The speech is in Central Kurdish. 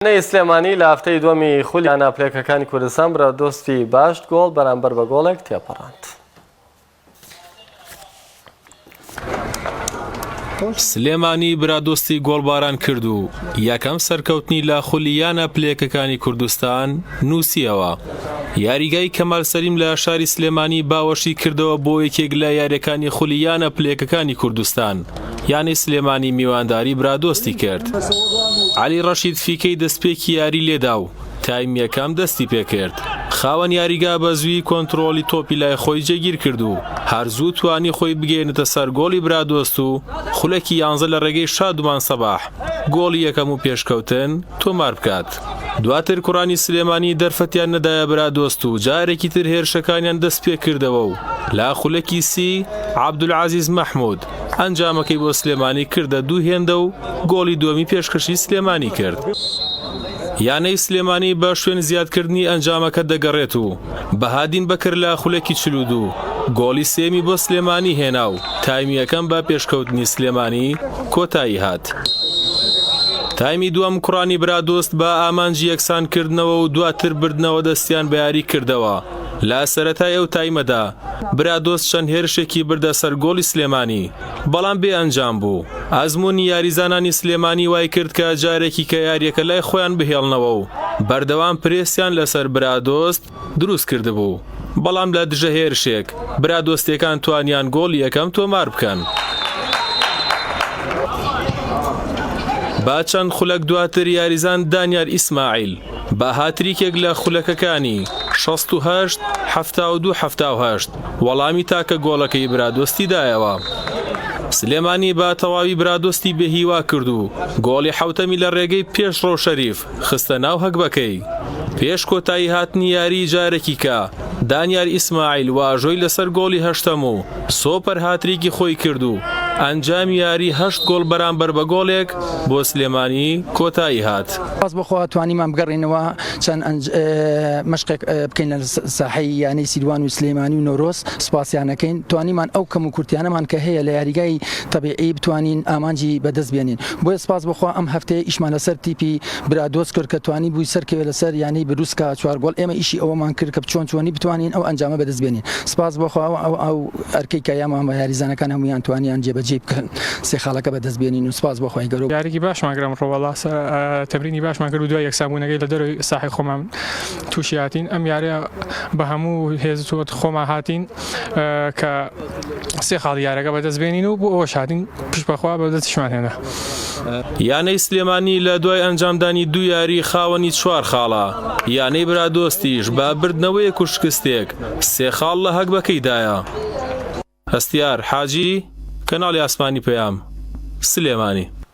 یانەی سلێمانی لە هەفتەی دووەمی خولی یانە پلەکەکانی کوردستان برادۆستی باشت گۆڵ بەرامبەر بە گۆڵێک تێپەڕاند. سلێمانی برادۆستی گۆڵباران کرد و یەکەم سەرکەوتنی لە خولی یانە پلێکەکانی کوردستان نووسیەوە یاریگای کەمال سەریم لە شاری سلێمانی باوەشی کردەوە بۆ یەکێک لە یاریەکانی خولی یانە پلێکەکانی کوردستان یانەی سلێمانی میوانداری برادۆستی کرد عەلی ڕەشید فیکەی دەستپێکی یاری لێدا و تایمی یەکەم دەستی پێکرد خاوەن یاریگا بە زووی کۆنتترۆلی تۆپی لای خۆی جێگیر کرد و هەر زوو توانی خۆی بگەێنێتە سەر گۆڵی برادۆست و خولەکی یانزە لە ڕێگەی شادومان سەباح گۆڵی یەکەم و پێشکەوتن تۆمار بکات دواتر کوڕانی سلێمانی دەرفەتیان نەدایە برادۆست و جارێکی تر هێرشەکانیان دەست پێکردەوە و لا خولەکی سی عبدولعزیز مححمود ئەنجامەکەی بۆ سلێمانی کردە دوو هێندە و گۆڵی دووەمی پێشکەشی سلێمانی کرد. یانەی سلێمانی بە شوێن زیادکردنی ئەنجامەکە دەگەڕێت و بەهادین بەکر لە خولەکی چل و دوو گۆڵی سێیەمی بۆ سلێمانی هێنا و تایمی یەکەم بە پێشکەوتنی سلێمانی کۆتایی هات. تایمی دووەم کوڕانی برادۆست بە ئامانجی یەکسانکردنەوە و دواتر بردنەوە دەستیان بە یاریکردەوە. لە سەرەتای ئەو تایمەدا برادۆست چەند هێرشێکی بردە سەر گۆڵی سلێمانی، بەڵام بێ ئەنجام بوو، ئەزموونی یاریزانانی سلێمانی وایکرد کە جارێکیکە یارییەکە لای خۆیان بهێڵنەوە و بەردەوام پرێسیان لەسەر برادۆست دروست کردبوو، بەڵام لە دژە هێرشێک برادۆستییەکان توانیان گۆڵی یەکەم تۆمار بکەن. با چەند خولەک دواتر یاریزان دانیار ئیسماعیل، با هاتریکێک لە خولەکەکانی، شەست و هەشت، حەفتا و دوو، حەفتا و هەشت، وەڵامی تاکە گۆڵەکەی برادۆستی دایەوە. سلێمانی بە تەواوی برادۆستی بێهیوا کرد و گۆڵی حەوتەمی لە رێگەی پێشڕەو شەریف خستە ناو هەگبەکەی. پێش کۆتایی هاتنی یاریی جارێکیکە دانیار ئیسماعیل واژۆی لەسەر گۆڵی هەشتەم و سۆپەر هاتریکی خۆی کرد و ئەنجامی یاری هەشت گۆڵ بەرامبەر بە گۆڵێک بۆ سلێمانی کۆتایی هات. سپاس بۆ خوا توانیمان بگەڕێینەوە چەند مەشقێک بکەین لە ساحەی یانەی سیروان و سلێمانی و نەورۆز سپاسیان ئەکەین توانیمان ئەو کەم و کورتیانەمان کە هەیە لە یاریگای تەبیعی بتوانین ئامانجی بەدەست بێنین بۆیە سپاس بۆ خوا ئەم هەفتەیە ئیشمان لەسەر تیپی برادۆست کۆرکە توانیبووی سەرکەوێت لەسەر یانەی بروسکا چوار گۆڵ، ئێمە ئیشی ئەوەمان کرد کە چۆن چۆنی بتوانین ئەو ئەنجامە بەدەست بێنین، سوپاس بۆ خوا ئەو ئەرکەی کە یامان وە یاریزانەکان هەموویان توانیان جێبەجێی بکەن سێ خاڵەکە بەدەست بێنین و سوپاس بۆ خوای گەورە. یاریەکی باشمان کرد ئەمڕۆ وەڵا تەمرینی باشمان کرد و دوای یەکسانبوونەکەی لە دەرەوەی ساحەی خۆمان تووشی هاتین ئەم یاریە بە هەموو هێزت خۆمان هاتین کە سێ خاڵی یارەکە بەدەست بێنین و بۆ ئەوەش هاتین پشت بەخوا بە دەستیشمان هێنا. یانەی سلێمانی لە دوای ئەنجامدانی دوو یاری خاوەنی چوار خاڵە، یانەی برادۆستیش بە بردنەوەیەک و شکستێک سێ خاڵ لە هەگبەکەیدایە. هەستیار حاجی، کەناڵی ئاسمانی پەیام، سلێمانی.